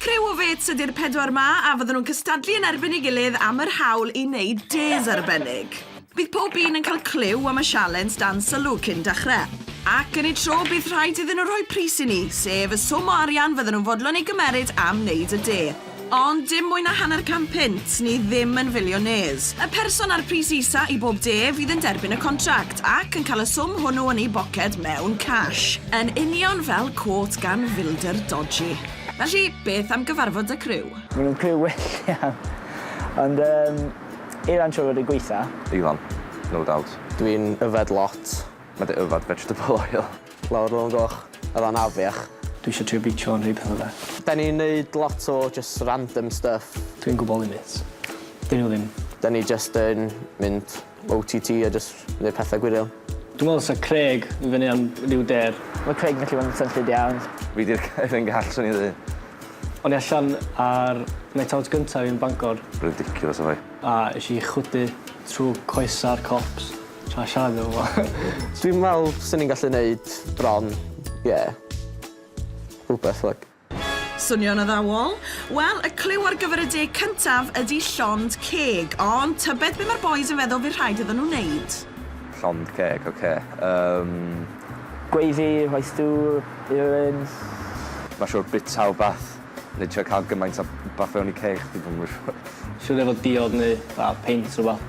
Criw o fêts ydy'r pedwar 'ma a fydden nhw'n cystadlu yn erbyn ei gilydd am yr hawl i wneud dês arbennig. Bydd pob un yn cael clyw am y sialens dan sylw cyn dechrau. Ac yn eu tro bydd rhaid iddyn nhw rhoi pris i ni, sef y swm o arian fydden nhw'n fodlon ei gymeryd am wneud y de. Ond dim mwy na hanner can punt, ni ddim yn filiynêrs. Y person â'r pris isa i bob de fydd yn derbyn y contract, ac yn cael y swm hwnnw yn ei boced mewn cash. Yn union fel cot gan filder dodgy. Felly, beth am gyfarfod 'da criw? Maen nhw'n criw well iawn. Ond yym, Ilan siŵr fod e'n gweitha. Ilan, no doubt. Dwi'n yfed lot. Mae dy yfed vegetable oil. Lawr lôn goch a fan afiach. Dwi isio trio beicio a neud petha da. Da ni'n neud lot o jyst random stuff. Dwi'n gwbo limits. Dyn nhw ddim. Da ni jyst yn mynd OTT a jyst neud petha gwirion. Dwi'n meddwl sa Craig yn fyny am ryw dêr. Mae Craig yn gallu bod yn swnllyd iawn. Fi di'r gair yn gall swn i'n ddeud. O'n i allan ar night out gynta fi yn Bangor. Ridiculous o foi. A esh i chwydu trw coesa'r cops. Try siarad efo fo. Dwi'n me'wl swn i'n gallu neud bron, ie, rhwbeth like. Swnio'n addawol? Wel, y clyw ar gyfer y deg cyntaf ydi llond ceg, ond tybed be mae'r bois yn feddwl fydd rhaid iddyn nhw wneud? Llond ceg, ok, yym. Gravy, rhoi stŵr, earings. Mae'n siŵr bwyta wbath neu trio cael gymaint o wbath fewn i ceg chdi, dwi'm yn siŵr. Siŵr efo diod neu fatha peint rhwbath.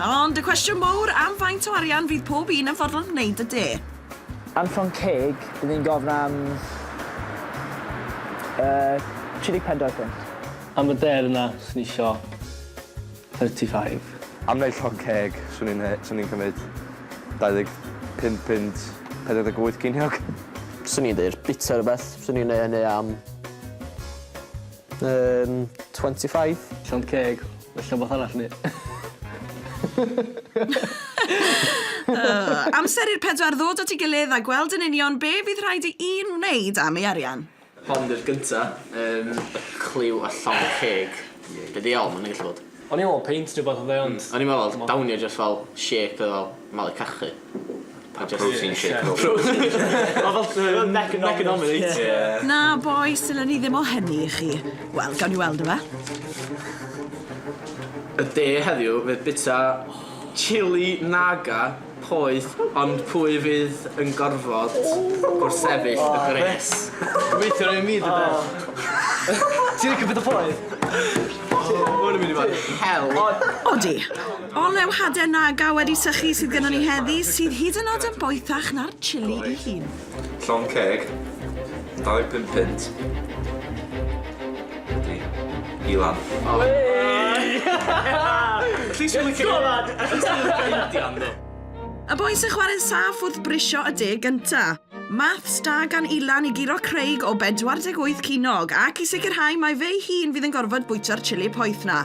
Ond y cwestiwn mowr am faint o arian fydd pob un yn fodlon gwneud y de? Anfon ceg, bydd hi'n gofyn am yy 34 punt. Am y deyrnas swn i isio 35. Am wneud llond ceg, swn i'n he- swn i'n cymryd 25 punt, 48 ceiniog. Swn i'n deud bwyta rhywbeth, swn i'n neud hynny am... Yym, twenty five. Llond ceg. Ella wbath arall ni. Yy, amser i'r pedwar ddod at ei gilydd a gweld yn union be' fydd rhaid i un wneud am ei arian. Hon 'di'r gynta. Yym, y cliw a llond ceg. Be' ddiawl ma' wnna gallu bod? O'n i'n meddwl peint neu wbath oedd e ond... O'n i'n meddwl oedd downy jyst fel shake oedd fel malu cachu. A protein shake oedd o. Oedd o fatha yn Economics. Na bois dylen ni ddim o hynny i chi. Wel gawn ni weld yfe? Y de heddiw fydd bita chili naga. Poeth, ond pwy fydd yn gorfod gwrthsefyll y gwres? Gobeithio ddim fi dwed. Ti'n licio petha poeth? O, ma' hwn yn mynd i fod yn hel. Odi. Olew hade Naga wedi sychu sydd gynnon ni heddi, sydd hyd yn o'd yn boethach na'r chilli 'i hun. Llond ceg, 25 punt. Ydy. I lan. O! Wei! At least ti'n licio... Go lad! At least ti'n licio India am ddim. Y boi sy'n chwarae'n saff wrth brisio y deg gynta. Maths da gan Ilan i guro Craig o 48 cinog ac i sicrhau mai fe'i hun fydd yn gorfod bwyta'r chili poeth 'na.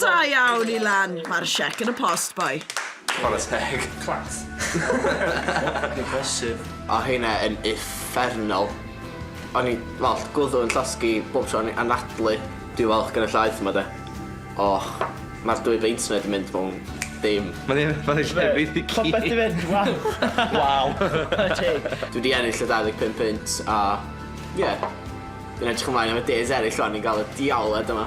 Da iawn i Lan! Mae'r siec yn y post, boi. Chwarae teg. Class. Impressive. O heina yn uffernol. O'n i fel gwddw yn llosgi bob tro o'n i anadlu. Dwi falch gen y llaeth yma de. O ma'r dwy beint yna di mynd mewn dim. Ma'n un o'r lle fi di cî. Popeth di mynd waw. Waw. Chwarae teg. Dwi di ennill y dau ddeg pump punt a ie. Dwi'n edrych ymlaen am y days eryll rwan i ga'l y diawled yma.